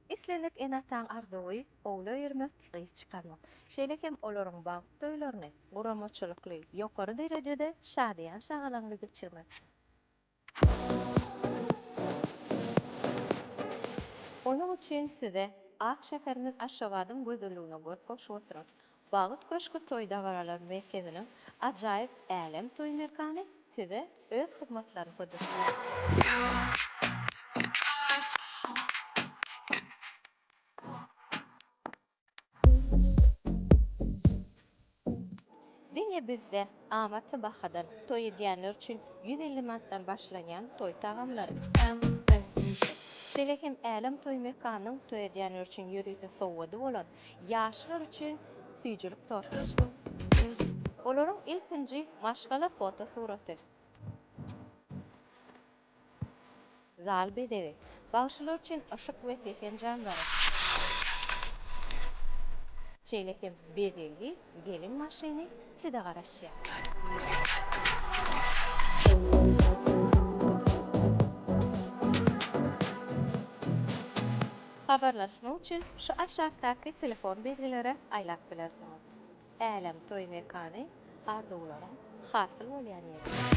Islendik ene-ataň arzuwy, owla öýermek, gyz çykarmak. Şeýle hem olaryň bagt toýlaryny guramaçylykly, ýokary derejede, şadyýan-şagalaňly geçirmek. Onuň üçin size ak şäherimiz Aşgabadyň gözelligine göz goşup oturan, Bagt köşgi toý-dabaralar merkeziniň ajaýyp Älem toý mekany size öz hyzmatlaryny Diňe bizde amatly bahadan toý edýänler üçin ýüz elli manatdan başlanýan toý tagamlary. Şeýle hem Älem toý mekanynyň toý edýänler üçin ýörite sowgady bolan ýaşlar üçin süýjülik torty. Olaryň ilkinji maşgala fotosuraty. Zal bezegi. Bagşylar üçin yşyk we pesen janlary. Şeýle hem bezegli gelin maşyny size garaşýar. Habarlaşmak üçin şu aşakdaky telefon belgilere aýlap bilersiňiz. Älem toý mekany arzuwlaryň hasyl bolýan ýeri.